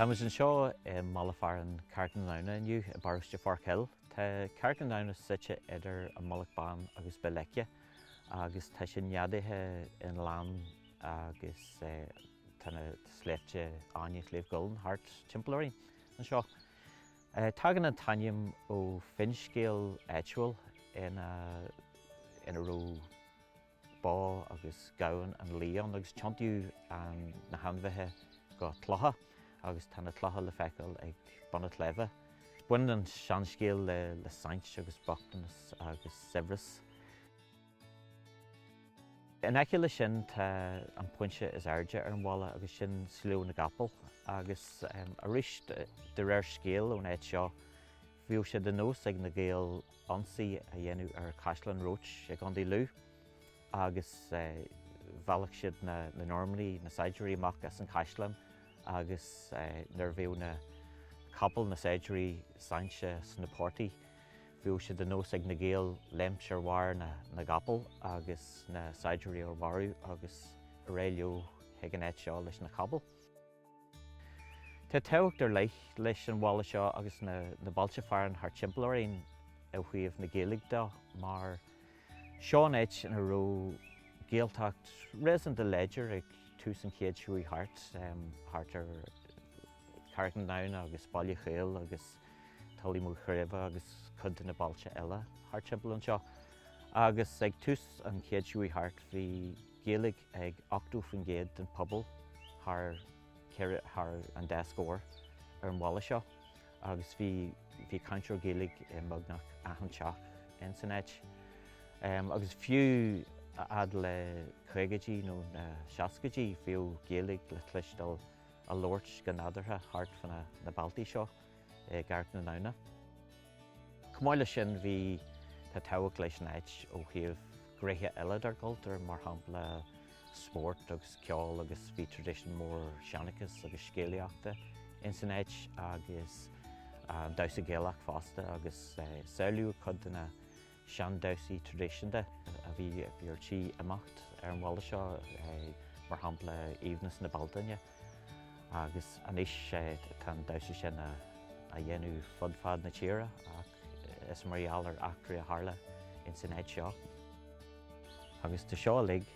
Tá muid anseo i mbaile fearainn Carraig na nGamhna inniu i bparóiste Forkhill. Tá Carraig na nGamhna suite idir an Mullach Bán agus Béal Leice agus tá sé neadaithe i ngleann agus tá na sléibhte Fháinne Shliabh gCuillinn thart timpeall orainn anseo. Tagann an t-ainm ó finscéal áitiúil ina raibh bó agus gamhain nó lao ann agus tiontaíodh na hainmhithe go clocha agus tá na clocha le feiceáil ag bun an tsléibhe. Baineann an seanscéal le saint agus bochtanas agus saibhreas. In aice le sin tá an pointe is airde ar an bhaile agus sin Sliabh na gCapall agus arís de réir scéil ón áit seo bhíodh sé de nós ag na Gaeil ionsaí a dhéanamh ar Chaisleán Roche i gContae Lú agus mheallfadh siad na Normannaigh, na saighdiúirí amach as an chaisleán agus nuair a bhíodh na capaill, na saighdiúirí, sáinnithe sna portaigh. Bhíodh sé de nós ag na Gaeil léimt ar bharr na gcapall agus na saighdiúirí a mharú agus ar aghaidh leo chuig an áit seo leis na capaill. Tá tábhacht ar leith leis an bhaile seo agus na bailte fearainn thart timpeall orainn ó thaobh na Gaeilge de mar seo an áit ina raibh Gaeltacht réasúnta láidir ag tús an chéid seo chuaigh thart thart ar Carraig na nGamhna agus Baile Chaol agus Tullymacreeve agus cuid de na bailte eile thart timpeall anseo. Agus ag tús an chéid seo chuaigh thart bhí Gaeilge ag 80% den phobal thar thar an dá scór ar an bhaile seo agus bhí bhí cainteoir Gaeilge i mbeagnach achan teach in san áit. Agus fiú fhad le caogaidí nó na seascaidí bhíodh Gaeilge le cloisteáil a labhairt go nadúrtha thart fá na bealtaí seo i gCarraig na nGamhna. Chomh maith leis sin bhí tá tábhacht leis an áit ó thaobh gnéithe eile dár gcultúr, mar shampla spórt agus ceol agus bhí tradition mór seanchas agus scéalaíochta ins an áit agus damhsa Gaelach fosta agus sábháladh cuid de na sean-damhsaí traidisiúnta a bhí ar tí imeacht ar an bhaile seo, mar shampla Aoibhneas na Bealtaine agus anois tá an damhsa sin á dhéanamh fud fad na tíre ach is mar gheall ar eachtraí a tharla ins an áit seo. Agus tá seo uilig